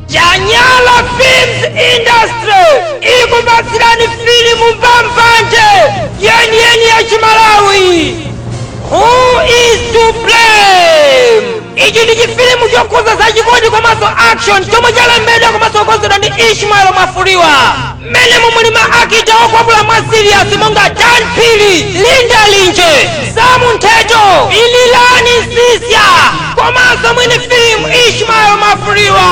Janyala Films Industry ikupatsirani filimu mbambande yeniyeni ya Chimalawi Who is to blame? Ichi ndi chifilimu chokhuza za chikondi komanso action chomwe chalembedwa komanso kukonzedwa ndi Ishmael Mwafulirwa. mmenemu muli ma actor okwapula mwa serious monga dan phiri linda linje samu nthetho ililani Sisya komanso mwini filimu ishmael Mwafulirwa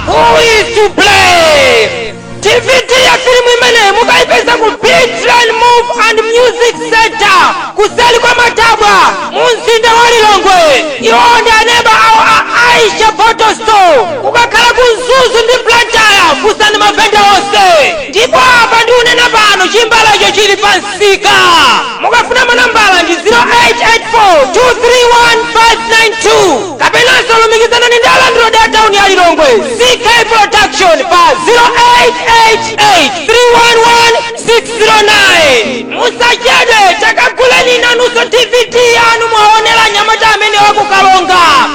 who is to blame DVD ya filimu imene mukayipeza ku big train movie and music center kuseli kwa matabwa mu mzinda wa lilongwe iwo ndi aneba awo a Aisha photo studio Ukakhala ku Mzuzu ndi Blantyre funsani mavenda onse ndipo apa ndikunena pano chimbalecho chili pa msika. Mukafuna manambala ndi 0884231592 kapenanso lumikizanani ndi alandilodi a tauni ya Lilongwe CK Production pa 0888311609. Musachedwe takaguleni nanunso DVD yanu mwaonera mnyamata amene wakukalonga.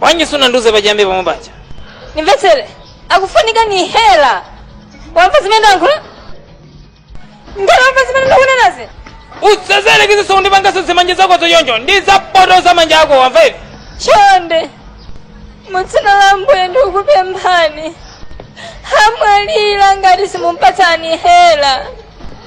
bwanji sunandiuze pachiyambi pomwe paja ndimvetsere akufunika inhaler wamva zimene ndayankhula ngati wamva zimene ndikunenazi usayerekeze nkundipangaso zimanja zako zonyonjo ndi zopotoza manja ako wamva ivi chonde mudzina la mbuye ndikupemphani amwalira ngati simumpatsa inhaler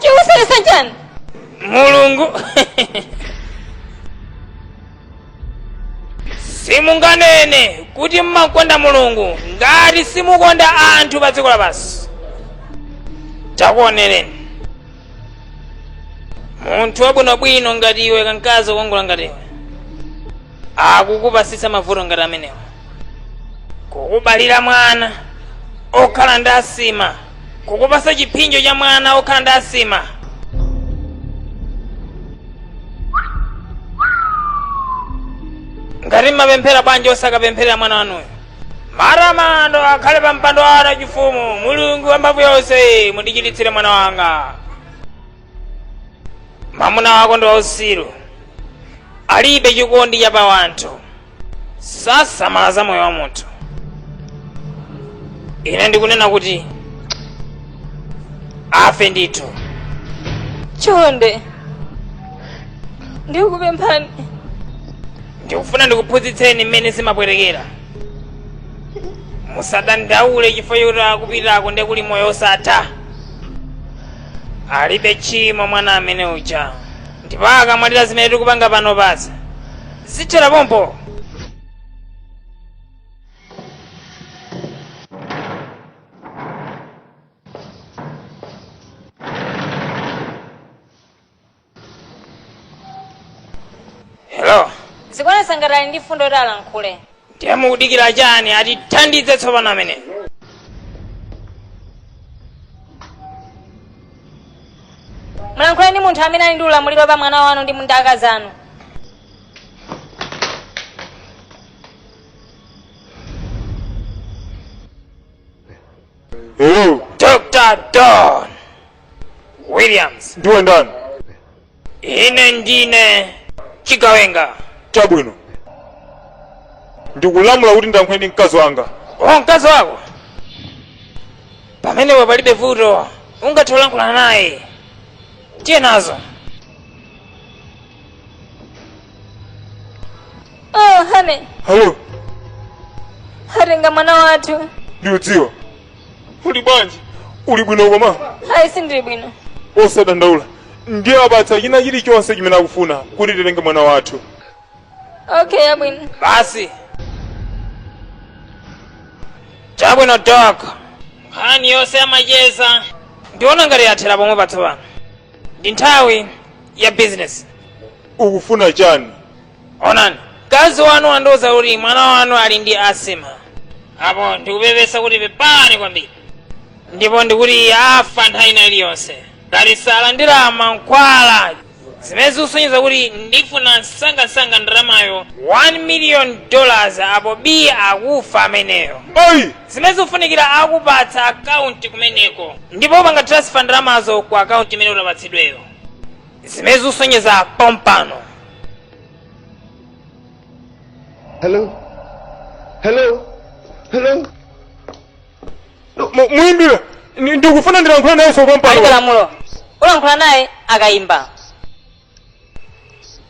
chikuvuta chani mulungu simunganene kuti mmakonda mulungu ngati simukonda anthu pa dziko lapansi takuonereni munthu wabwinobwino ngati iwe kankazi kokongola ngati iwe akukupasitsa mavuto ngati amenewa kukubalira mwana okhala ndi asima kukupasa chiphinjo cha mwana wokhala ndi asima ngati mmapemphera bwanji osakapempherera mwana wanuyo matamando akhale pa mpando wanu wachifumu mulungu wamphamvu yonse mundichiritsire mwana wanga mwamuna wako ndi wausiru alibe chikondi cha pa wanthu sasamala za moyo wa munthu ine ndikunena kuti afe ndithu chonde ndikupemphani ndikufuna ndikuphunzitseni mmene zimapwetekera musadandaule chifukwa choti akupita komwe kuli moyo osatha alibe tchimo mwana amene uja ndipo akamwalira zimene tikupanga pano basi zithera pompo hello zikuonetsa ngati ali ndi mfundo yoti alankhule ndiye mukudikira chani atithandize tsopano amene mulankhule ndi munthu amene ali ndi ulamuliro pa mwana wanu ndi mundaka zanu Hello, dr don williams ndiwe ndani? ine ndine chigawenga chabwino ndikulamula kuti ndiyankhule ndi mkazi wanga o mkazi wako pamenepo palibe vuto ungathe kulankhulana naye tiye nazo oh honey hello atenga mwana wathu ndikudziwa Uli bwanji? Uli bwino koma? Ayi sindili bwino. Osadandaula. Ndiwapatsa china chilichonse chimene akufuna kuti titenge mwana wathu. Okay, chabwino. Basi. Chabwino doc. Nkhani yonse yamacheza. Ndiona ngati yathera pomwepa tsopano. Ndi nthawi ya business. Ukufuna chani? onani mkazi wanu wandiuza kuti mwana wanu ali ndi asima apo ndikupepesa kuti pepani kwambiri ndipo ndikuti afa nthawi ina iliyonse ngati salandira mankhwala zimene zikusonyeza kuti ndifuna msangamsanga ndalamayo 1 million dollars apo bii akufa ameneyo ayi zimene zikufunikira akupatsa akaunti kumeneko ndipo upanga transfer ndalamazo ku akaunti imene utapatsidweyo zimene zikusonyeza pompano Hello? Hello? Hello? muyimbira ndikufuna ndilankhula naye alibenso pompano lamulo ulankhula naye akayimba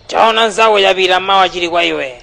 chaona mnzako chapita mawa chili kwa iwe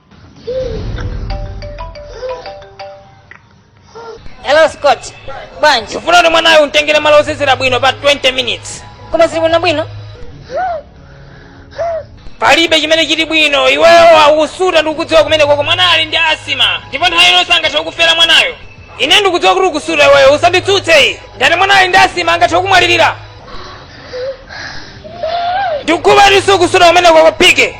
hello scott bwanji ufuna kuti mwanayo umtengere malo osewera bwino pa 20 minutes koma zili bwino bwino palibe chimene chili bwino iweyo ukusuta ndikukudziwa kumenekoko mwana ali ndi asima ndipo nthawi ino sangathe kukufera mwanayo ine ndikudziwa kuti ukusuta iweyo usanditsutse ayi ndati mwana ali ndi asima angathe kukumwalirira ndikudziwa kuti ukusuta kumenekoko pike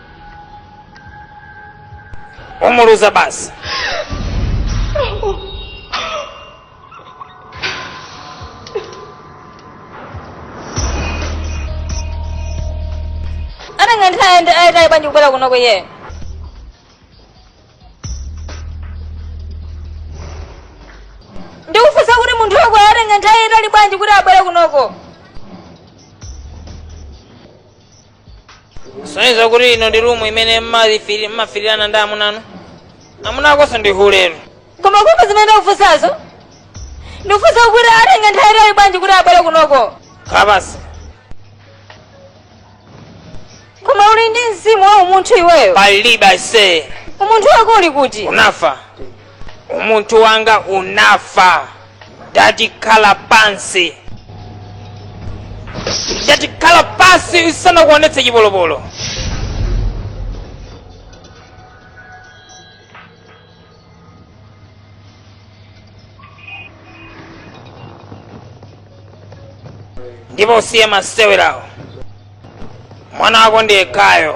umuluza basi atenga nthawi yaitali bwanji kubwera kuno iwe ndikufunsa kuti munthu wako atenga nthawi yaitali bwanji kuti abwere kunoko zosonyeza kuti ino ndi rumu imene mmafitirana ndi amunanu amuna akonso ndi hule koma kumva zimene ndakufunsazo ndikufunsa kuti atenge nthawi itali bwanji kuti abwere kunoko khala pansi koma uli ndi mzimu wa umunthu iweyo palibe aise umunthu wako uli kuti unafa umunthu wanga unafa ndati khala pansi ndati khala pansi ndisanakuonetse chipolopolo ndipo usiye masewerawo mwana wako ndi yekhayo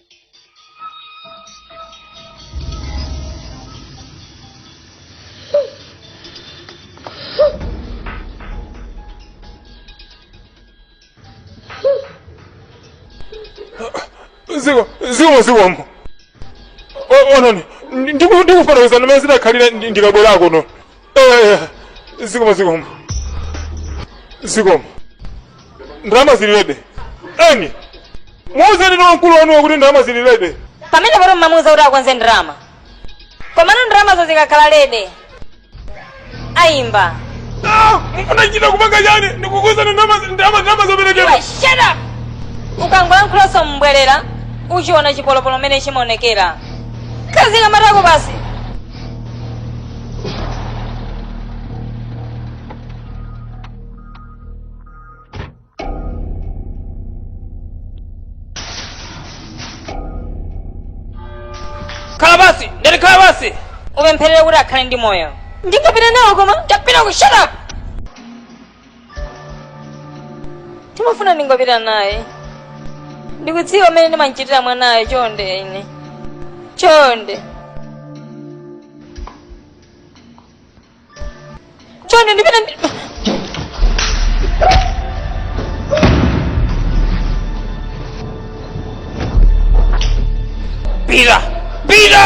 ziko ziko zikomo ononi ndikufananiza ndi mmene zidakhalira ndikabwera kuno Eya, zikomo zikomo zikomo ndalama zili lede eni muuzenino mkulu wanuwo kuti ndalama zili lede pamenepoto mmamuuza kuti akonze ndalama komano ndalamazo zikakhala lede ayimba Ah, munachita kupanga chani ndikukuuzani ndalama ndalama ndalama zoperekera Iwe, shut up ukangolankhulaso mobwereza uchiona chipolopolo mmene chimaonekera kaziika matako pansi khala pansi ndati khala pansi upempherere kuti akhale ndi moyo ndingapita nawo koma ndapita ku shut up timafuna ndingopita naye ndikudziwa mmene ndimamchitira mwanayo chonde ine chonde chonde ndipita ndi Pira! Pira!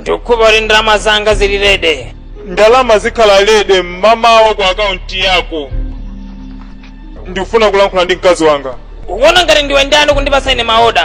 ndikukhumba kuti ndalama zanga zili ready ndalama zikhala ready mmamawa ku akaunti yako ndikufuna kulankhula ndi mkazi wanga ukuwona ngati ndiwe ndani kundipatsa ine maoda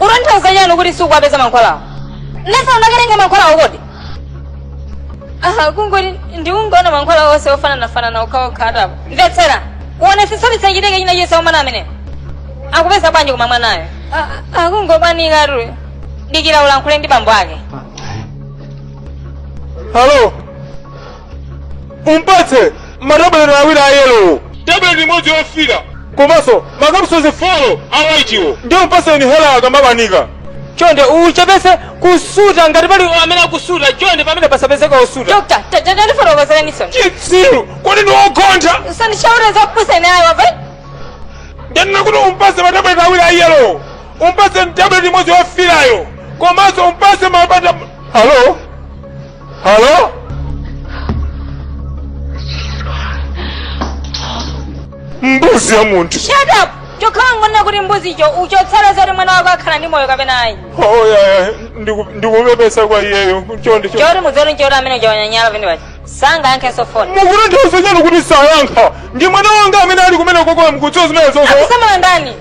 utanthauza chani kuti sikuwapeza mankhwalawo Ndesa ukatenge mankhwalawo kodi aha kungoti ndikungoona mankhwala onse ofananafanana okhaokha atapo mvetsera uonetsetse usachite china chilichonse mwana ameneyo akupeza bwanji koma mwanayo akungobanikatu dikira ulankhule ndi bambo ake Hello. umpatse matabuleti awiri a yelowo tabuleti imodzi yofira komanso makapusozi folo a waitiwo ndi umpatse inhaler akamabanika chonde uchepese kusuta ngati pali amene akusuta chonde pamenepo pasapezeke osuta Dokta, tatandifotokozereni tsono. chitsiru kodi ndi wogontha Usandiuze zakupusa ineyo wamva? ndanena kuti umpatse matabuleti awiri a yelowo umpatse tabuleti imodzi yofirayo komanso umpatse mapata halo Halo? Mbuzi ya munthu. Shut up! Nchokhala ukuona kuti mbuzi icho uchosala zoti mwana wako akhala ndi moyo kapena ayi. Oh yeah, yeah. Ndiku- Ndikupepesa kwa iyeyo. Chonde chonde. Choti mudziwe nchoti amene uchawanyanyala pamene paja. Sangayankhenso foni. Mukuti mukuthauzanji kuti sayankha. Ndi mwana wanga amene ali kumenekoko mkutso zimene zozo. Akusamala ndani?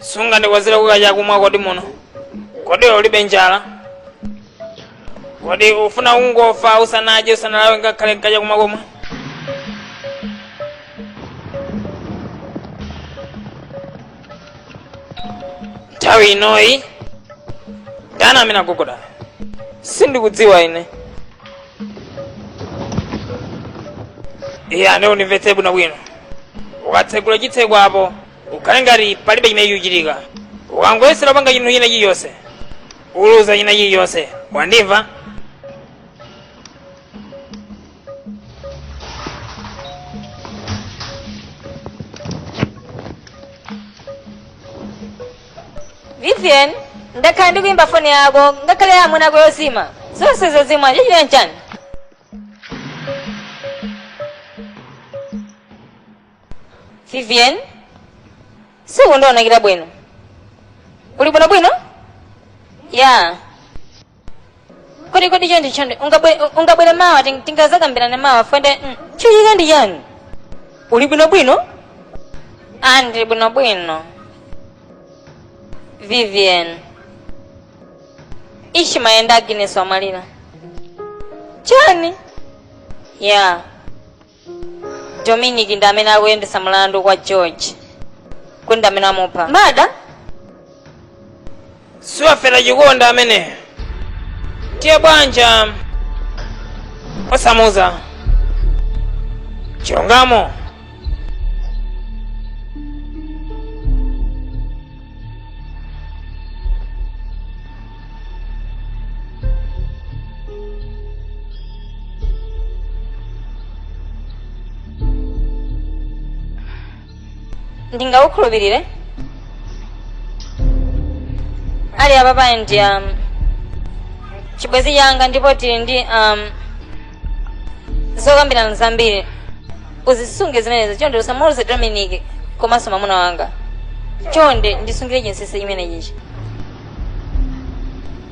sungandikonzereko kachakumwa kodi muno kodi ulibe njala kodi ufuna kungofa usanadye usanalawe ngakhale nkachakumwa komwe nthawi inoyi ndani amene agogoda sindikudziwa ine iye ande undimvetse bwinobwino ukatsegula chitseko apo ukhale ngati palibe chimene chikuchitika ukangoyesera kupanga chinthu china chilichonse uluza china chilichonse wandimva vivian ndakhala ndikuyimba foni yako ngakhale ya amuna ako yozima zonse zozima chachitika nchani Vivian, sukundionekera bwino. Uli bwino bwino? Ya. Kodi kodi chonde chonde, ungabwe ungabwere mawa ting- tingazakambirane mawa fwende. mm, Chachitika ndi chani? Uli bwino bwino? Ah, ndili bwino bwino. Vivian. Ishi mai ake a Agnes amwalira. Chani? Ya. dominic ndi amene akuyendetsa mlandu wa george kuti ndi amene amupha mada siwafera chikonda amene tiye bwanja osamuza chilungamo ndingakukhulupirire ali apapa ndi um, chibwenzi changa ndipo tili ndi um, zokambirana zambiri uzisunge zimenezo chonde usamuuze dominic komanso mamuna wanga chonde undisungire chinsisi chimenechichi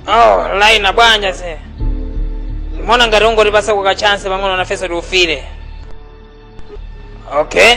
oh laina bwanja ndimaona ngati ungotipasako ka chance pang'ono nafeso tiwufile okay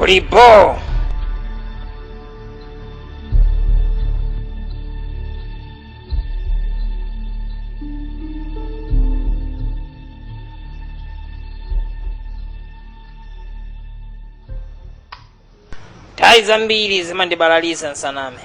uli bo nthawi zambiri zimandibalalitsa nsaname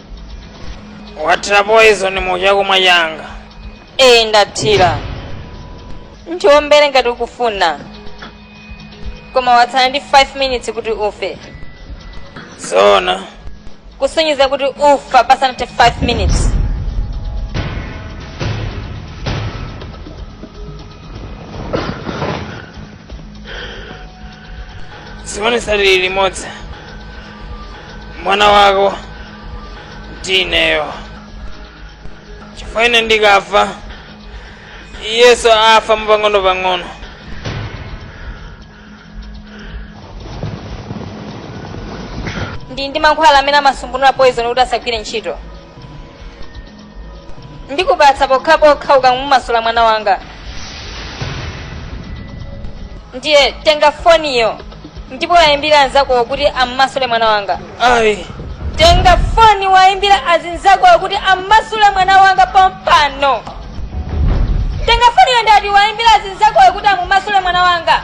wathira poison mu chakumwa changa ee ndathira ndiwombere ngati ukufuna koma watsala ndi 5 minutes kuti ufe zoona kusonyeza kuti ufa pasanathe 5 minutes chiponesa lili limodzi mwana wako ndi ineyo chifukwa ine ndikafa iyeso afa mwapang'ono pang'ono ndili ndi mankhwala amene amasungunula poison kuti asagwire ntchito ndikupatsa pokhapokha ukamumasula mwana wanga ndiye tenga foniyo ndipo uwayimbire anzakowo kuti ammasule mwana wanga ayi tenga foni uwayimbire azinzakowo kuti ammasule mwana wanga pompano tenga foniyo ndati uwayimbire azinzakowo kuti amumasule mwana wanga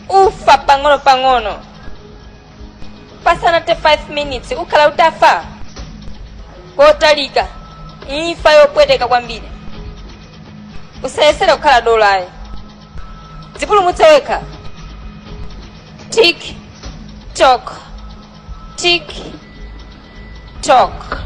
ufa pang'ono pang'ono pasanathe 5 minutes ukhala utafa kotalika imfa yopweteka kwambiri usayesere kukhala dolayo dzipulumutse wekha tik tok tik tok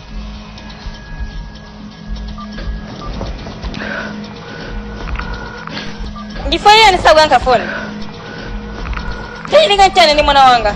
Ndifanye yani sasa kuyanka phone. Tani ninga chana ni mwana wanga.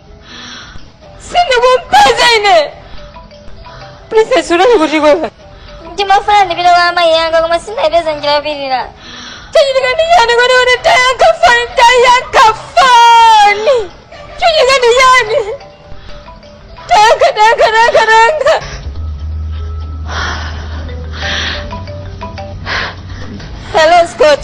sindikukupeza ine princess unali kuti kwewe ndimafuna ndipite kwa amayi anga koma sindayipeza njira yopitira chachitika ndi chani kuti kuti tayankha foni tayankha foni chachitika ndi chani tayankha tayankha tayankha tayankha hello scott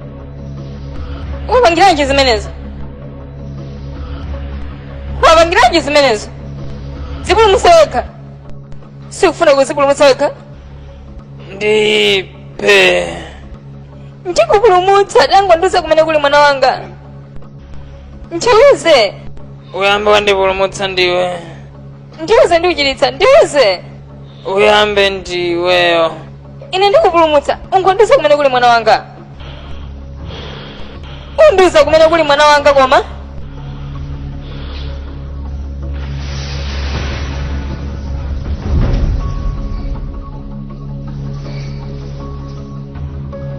wapangiranji zimenezo wapangiranji zimenezo dzipulumutse wekha sikufuna kuzipulumutsa wekha ndipe ndikupulumutsa tangondiuza kumene kuli mwana wanga ndiuze uyambe wandipulumutsa ndiwe ndiuze ndikuchiritsa ndiuze uyambe ndiweyo ine ndikupulumutsa ungondiuza kumene kuli mwana wanga undiuza kumene kuli mwana wanga koma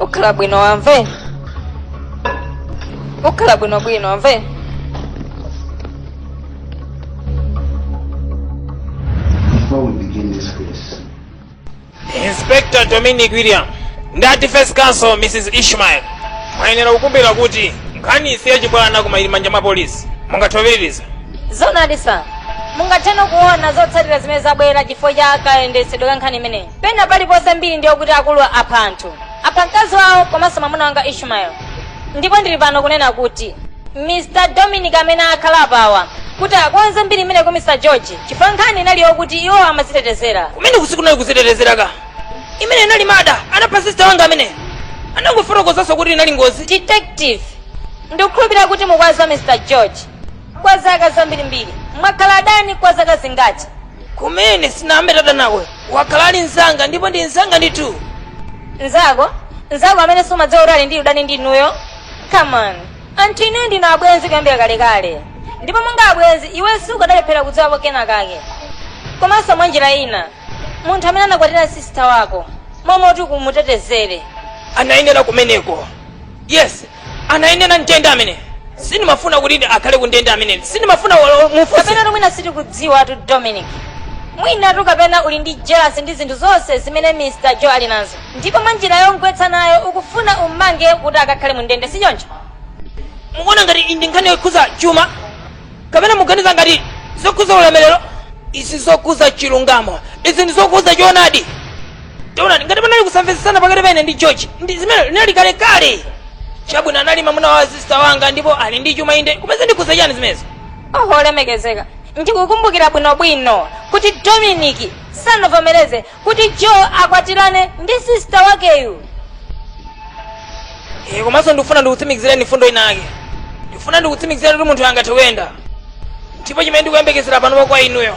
ukhala bwino wamve ukhala bwinobwino wamve Before we begin this case, inspector dominic william ndati first counsel mrs ishmael muyenera kukumbukira kuti nkhaniyi si yachibwana koma ili m'manja mwa polisi mungathoveririza zonadisa mungatheno kuona zotsatira zimene zabwera chifukwa cha kayendetsedwe ka nkhani imeneyi pena paliponse mbiri ndi yokuti akuluwa apha anthu apha mkazi wawo komanso mwamuna wanga ishmael ndipo ndili pano kunena kuti mr dominic amene akhala apawa kuti akonze mbiri imeneyi ku mr george chifukwa nkhani inali yokuti iwo amazitetezera kumene usiku unali kuzitetezera kwake imene inali murder anapha sista wanga amene anangofotokozanso kuti inali ngozi detective ndikukhulupirira kuti mukuwadziwa mr george kwa zaka zambirimbiri mwakhala adani kwa zaka zingati mmene sitinayambe tadana naye wakhala ali mnzanga ndipo ndi mnzanga ndithu nzako nzako amene sumadziwa kuti ali ndi udani ndi inuyo come on anthu inuyo ndinu abwenzi kuyambira kalekale ndipo monga abwenzi iwe sukadalephera kudziwapo kena kake komanso mwa njira ina munthu amene anakwatira sisita wako momwe kuti kumutetezere anayenera kumeneko yes anayenera m'ndende amene sindimafuna kuti akhale kundende amene sindimafuna wa- mufunse mwinatu mwina sitikudziwa tu dominic mwinatu kapena uli ndi jealous ndi zinthu zonse zimene mr joe ali nazo ndipo mwa njira yomugwetsa nayo ukufuna ummange kuti akakhale mu ndende si choncho mukuona ngati iyi ndi nkhani yokhuza chuma kapena muganiza ngati zokhuza ulemerero izi ndi zokhuza chilungamo izi ndi zokhuza choonadi taonani ngati panali kusamvetsetsana pakati pa ine ndi george ndi zimene zinali kalekale chabwino anali mamuna wa sista wanga ndipo ali ndi chuma inde koma zikukhuza chani zimenezo oho olemekezeka ndikukumbukira bwinobwino kuti dominiki sanavomereze kuti joe akwatirane ndi sista wakeyu Eh, komanso ndikufuna ndikutsimikizireni mfundo inake ndikufuna ndikutsimikizireni kuti munthu angathe kuyenda ndipo chimene ndikuyembekezera panopa kwa inuyo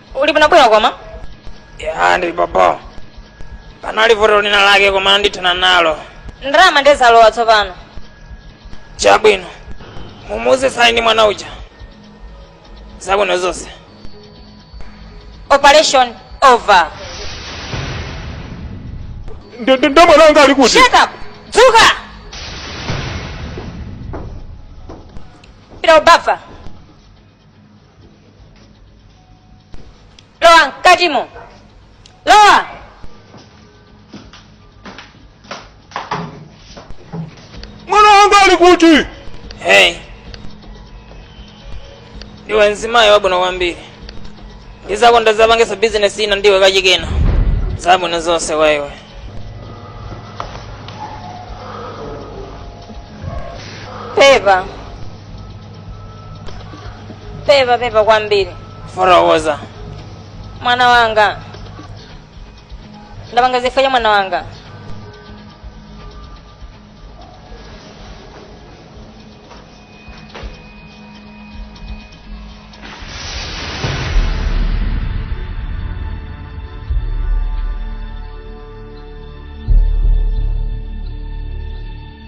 uli bwino bwino koma ya ndili bobo panali vuto lina lake koma ndithana nalo ndalama nde zalowa tsopano chabwino mumuuze sali ndi mwana uja zabwino zonse operation over Ndo- ndo- ndo mwana wanga ali kuti shut up dzuka pita ubafa lowa mkatimo lowa mwana wanga ali kuti hey ndiwe mzimayi wabwino kwambiri ndizakonda zapangisa bizinesi ina ndiwe kachikena zabwino zonse kwa iwe pepa pepa pepa kwambiri fotokoza mwana wanga ndapanga zifukwa cha mwana wanga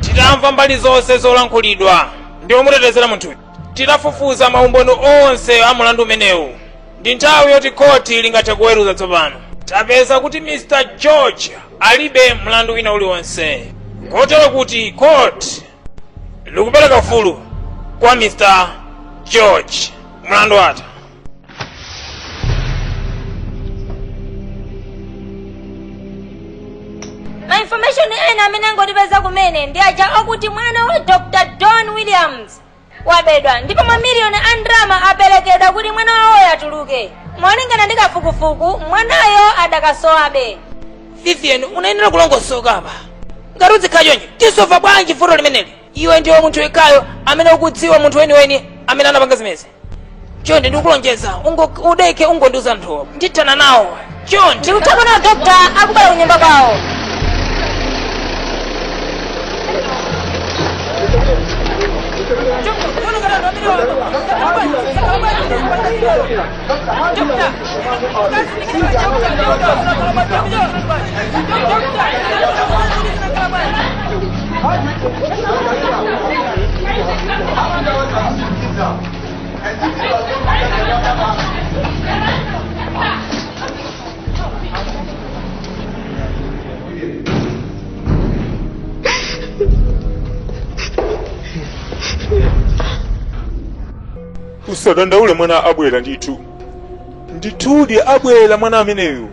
titamva mbali zonse zolankhulidwa ndi omutetezera munthuyu titafufuza maumboni onse a mulandu umenewu ndi nthawi yoti khoti lingathe kuweruza tsopano tapeza kuti mr george alibe mlandu wina uliwonse kotero kuti khoti likupereka ufulu kwa mr george mlandu watha ma information ena amene angotipeza kumene ndi aja akuti mwana wa dr john williams wabedwa ndipo mamiliyoni a ndalama aperekedwa kuti mwana wawoyo atuluke. Molingana ndi kafukufuku, mwanayo adakasowabe. Vivian, unayenera kulongosoka apa. Ngati udzikhala choncho, tisova bwanji vuto limeneli? Iwe ndiwe munthu yekhayo amene ukudziwa munthu weniweni amene anapanga zimezi. chonde ndikulonjeza ungo- udeke ungondiuza nthu ndithana nawo chonde ndikuthapo nawo dokta akubwera kunyumba kwawo usadandaule mwana abwera ndithu ndithudi abwera mwana ameneyu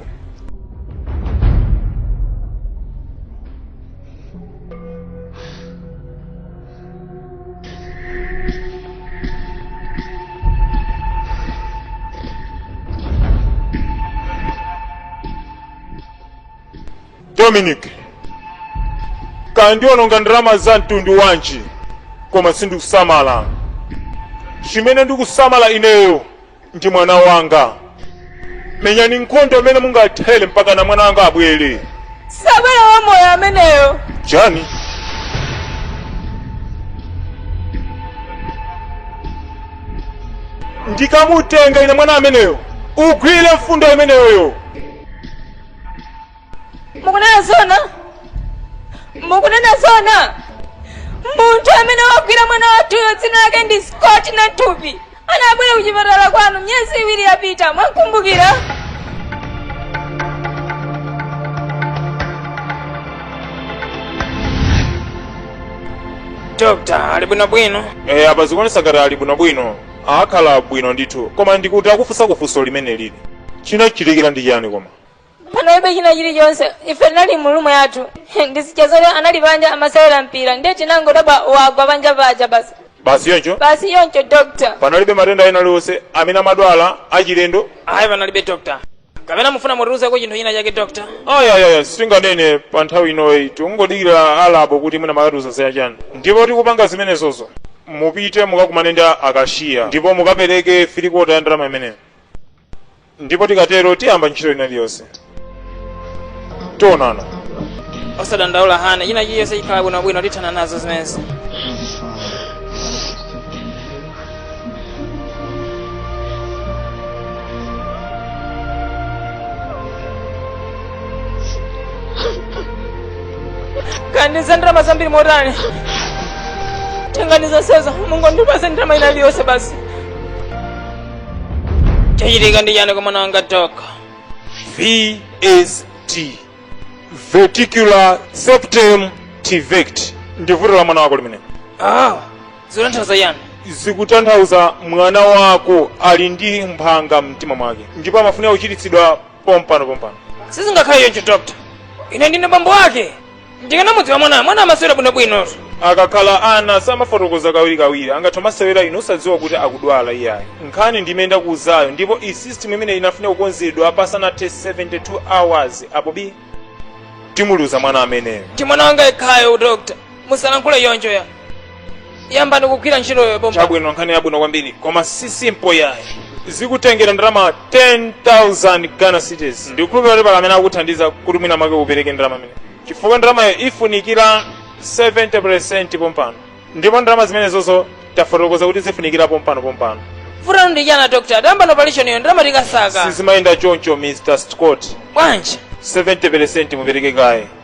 dominic ukundiwonongera ndalama za mtundu wanji koma sindikusamala chimene ndikusamala ineyo ndi mwana wanga menyani nkhondo imene mungathere mpakana mwana wanga abwere sabwera wamoyo ameneyo chani ndikamutenga ine mwana ameneyo ugwire mfundo imeneyoyo mukunena zona mukunena zona munthu amene wagwira mwana wathuyo dzina lake ndi scott namthupi anabwera kuchipatala kwanu miyezi iwiri yapita mwamukumbukira dokta ali bwinobwino e, apa zikuonesa ngati ali bwinobwino akhala bwino ndithu koma ndikuti akufunsa funso limene lili chinachitikira ndi chiyani koma panalibe china chilichonse ife tinali mu room yathu ndizija zoti anali panja amasewera mpira ndiye tinangodabwa wagwa panja paja basi basi choncho basi choncho doctor panalibe matenda ena aliwonse amene amadwala achilendo ayi panalibe doctor kapena mufuna mutiuzeko chinthu china chake doctor ayayaya sindinganene pa nthawi inoyi tikungodikira a lab kuti mwina makatiuza zina chani ndipo tikupanga zimenezozo mupite mukakumane ndi akashiya ndipo mukapereke three quarter ya ndalama imeneyo ndipo tikatero tiyamba ntchito ina iliyonse tionana osadandaula hane china chilichonse chikhala bwinobwino tithana nazo zimenezi kodi ndi za ndalama zambiri motani tiganiza zonsezo mungondipatsa ndalama ina iliyonse basi chachitika ndi chani kwa mwana wanga dokta VSD Ventricular Septal Defect ndi vuto la mwana wako limene ah zikutanthauza chani zikutanthauza mwana wako ali ndi mphanga mumtima mwake ndipo amafunika kuchiritsidwa pompano pompano sizingakhale choncho dokta ine ndine bambo wake ndikanamudziwa mwanayo mwanayo amasewera bwinobwinotu akakhala ana samafotokoza kawirikawiri amangoti masewera inu osadziwa kuti akudwala iyayi nkhani ndi imene ndakuuzayo ndipo ndi system imene ikufunika kukonzedwa pasanathe 72 hours apo biii timuluza mwana ameneyo ndi mwana wanga yekhayo dokta musalankhule choncho ayi yambani kugwira ntchitoyo pompa chabwino nkhani yabwino kwambiri koma si simple yayi zikutengera ndalama 10000 ghana cedis ndikukhulupirira kuti pali amene akuthandiza kuti mwina make upereke ndalama imeneyi chifukwa ndalamayo ifunikira 70 percent pompano ndipo ndalama zimenezozo tafotokoza kuti zifunikira pompano pompano vuto lanu ndi chani dr tayambani operation iyo ndalama tikasaka sizimayenda choncho mr scott bwanji 70 percent mupereke kaye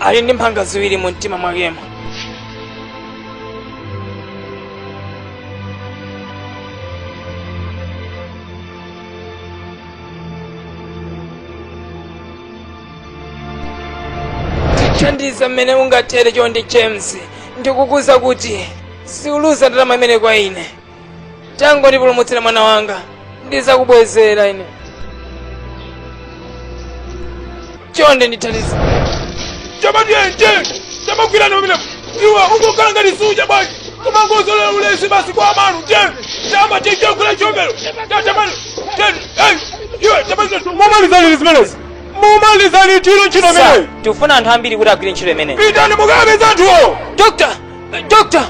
ali ndi mphanga ziwiri mu mtima mwakemo thandiza mmene ungathere chonde james ndikukuuza kuti siuluza ndalama imeneyi kwa ine tangondipulumutsira mwana wanga ndizakubwezera ine chonde ndithandize chamadyenje chamagwirana pamene iwe ungokhala ngati suja bwanji kumangozolowera ulesi basi kwa amanu te chama chichakula chomero tatamani iwe tamani mumalize zimenezi mumalize ntchito ntchito Sir, imeneyi tikufuna anthu ambiri kuti agwire ntchito imeneyi pitani mukapeze anthuwo dokta dokta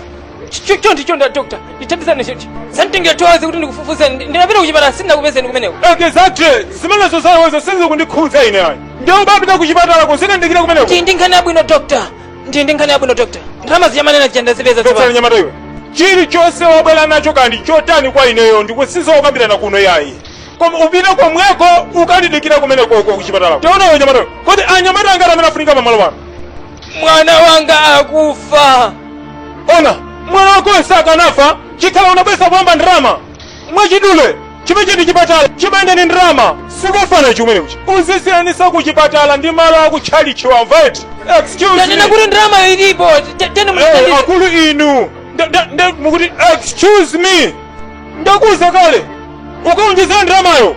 chonde chonde doctor ndithandizani chonde zanditengera two hours kuti ndikufufuzeni ndinapita kuchipatala sindinakupezeni kumeneko exactly zimenezo zakozo sizikundikhudza ine ayi ndiye upite kuchipatala ukandidikire kumeneko ndi ndi nkhani yabwino doctor ndi ndi nkhani yabwino doctor ndalama zija mumanena zija ndazipeza Dr. tsopano nyamata iwe chilichonse wabwera nacho kaya ndi chotani kwa ineyo si zokambirana kuno yayi koma upite komweko ukandidikire kumeneko uko kuchipatala tiona iwe nyamata iwe kodi ndi anyamata angati amene afunika pamalo pano mwana wanga akufa ona mwana wakoyo sakanafa zikhala unabweretsa kuyamba ndalama mwachidule ichichi ndi chipatala chimayenda ndi ndalama sikufanana ndi kumene kutchi uzisiyanitsa ku chipatala ndi malo aku tchalichi wamva eti excuse me tanena kuti ndalamayo ilipo Te- tene Eh, mutandire akulu inu Nda- nda- nda- mukuti excuse me ndakuuza kale ukaonjezere ndalamayo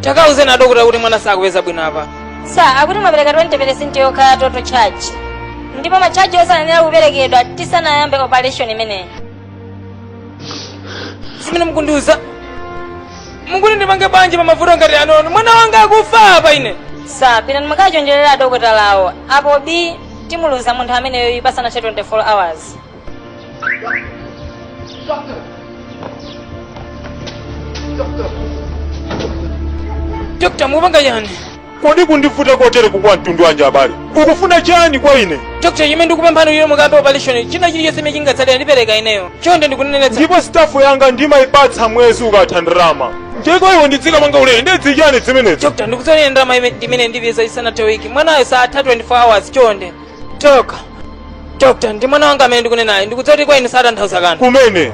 takauzeni adokotala kuti mwana sakupeza bwino apa sa akuti mwapereka 20 peresenti yokha ya total charge ndipo machaji osewa ayenera kuperekedwa tisanayambe operation imeneyi zimene mukundiuza mukuti ndipange bwanji pa mavuto ngati anowa mwana wanga akufa apa ine sa pitani mukachonjerera adokotalawo apo b timuluza munthu ameneyoyu pasanathe 24 hours dokota mupanga chiyani kodi kundivuta kotere kokhala mtundu wanji abale ukufuna chani kwa ine dokota ine ndikupemphani inu mukayambe opaleshoni china chili chonse chimene chingatsalire ndipereka ineyo ona ndikunenetsa ndipo sitafu yanga ndimayipatsa mwezi ukatha ndalama ndiyeno iwe ndidzikapanga ulere ndi zachiyani zimenezo dokota ndikusonkhera ndalama ime- imene ndipeza isanathe wiki mwanayo saatha 24 hours chonde Dok, dokta, ndi mwana wanga amene ndikunenayo ndikudziwa kuti kwa inu satanthauza kanthu. komano ine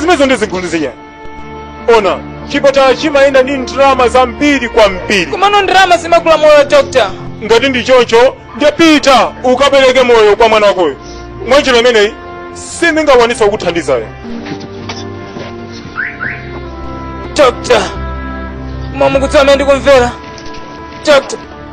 zimenezo sizikundikhudza ona chipatala chimayenda ndi ndalama zambiri kwambiri Komano ndalama zimagula moyo dokta. ngati ndi choncho tapita ukapereke moyo kwa mwana wakoyo mwanjira imeneyi sindingakwanitse kukuthandizayo Dokta, inu mukudziwa mmene ndikumvera. Dokta,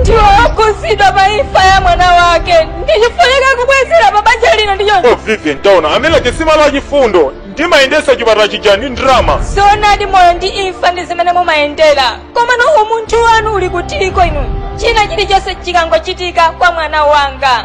ndiwokhudzidwa pa imfa ya mwana wake ndipo afunika kubwezera pa banja lino ndicho oh vivian taona amene alibe chisoni ndi chifundo ndimayendesa chipatala chija ndi ndalama zoonadi moyo ndi imfa ndi zimene mumayendera komano umunthu wanu uli kutiko inu china chilichonse chikangochitika kwa mwana wanga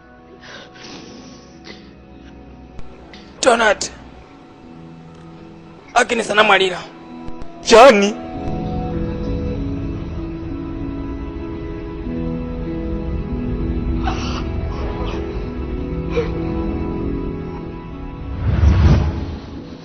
Donald. Agnes anamwalira. Chani?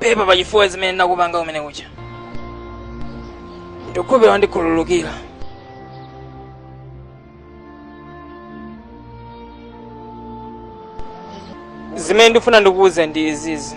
pepa pachifukwa zimene ndinakupanga kum'mawa kuja ndikukhupira wandikhululukira zimene ndikufuna ndikuwuze ndi izizi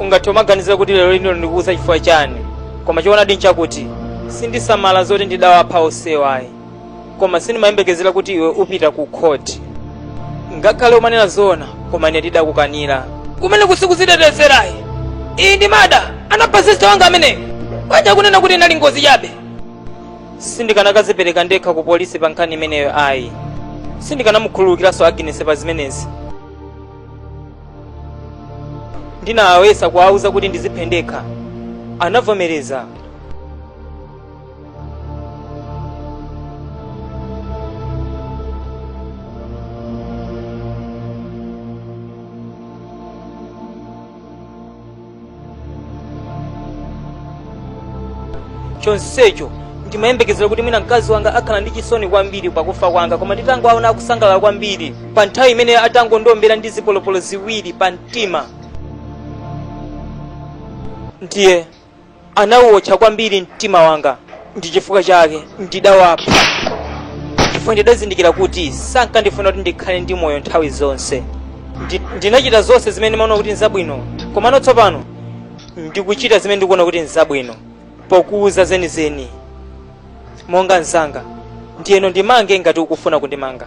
ungathe umaganizira kuti lero lino ndikuuza chifukwa chani koma choonadi nchakuti sindikusamala zoti ndidawapha osewa ayi koma sindimayembekezera kuti iwe upita ku khoti ngakhale umanena zoona koma ine ndidakukanira kumene osakuzitetezera ayi iyi ndi murder anapha sista wanga ameneyo kwachaku kunena kuti inali ngozi chabe sindikanakazipereka ndekha ku polisi pa nkhani imeneyo ayi sindikanamukhululukiranso aginesi pa zimenezi ndinawayesa kuwauza kuti ndiziphe ndekha anavomereza chonsecho ndimayembekezera kuti mwina mkazi wanga akhala ndi chisoni kwambiri pakufa kwanga koma nditangowaona akusangalala kwambiri pa nthawi imene atangondiombera ndi zipolopolo ziwiri pa mtima ndiye Anauwotcha kwambiri mtima wanga, ndi chifukwa chake ndidawapha, chifukwa ndidazindikira kuti sankandifuna kuti ndikhale ndi moyo nthawi zonse. Ndi, ndinachita zonse zimene ndimaona kuti nzabwino, komano tsopano ndikuchita zimene ndikuona kuti nzabwino, pokuwuza zenizeni monga mzanga, ndiyeno ndimange ngati ukufuna kundimanga.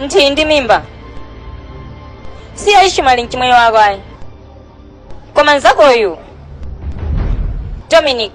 uli ndi mimba si ya Ishimaeli mchimwene wako ayi koma nzakoyu dominic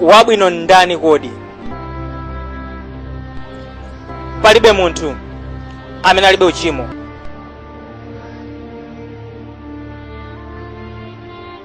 wabwino ndani kodi palibe munthu amene alibe uchimo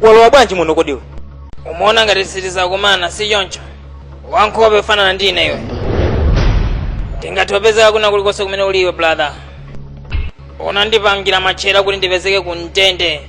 walowa bwanji muno kodi iwe umaona ngati sitidzakumana si choncho wankhope yofanana ndi ine iwe ndingathe kupezeka kwina kulikonse kumene uli iwe brother unandipangira matchale kuti ndipezeke ku ndende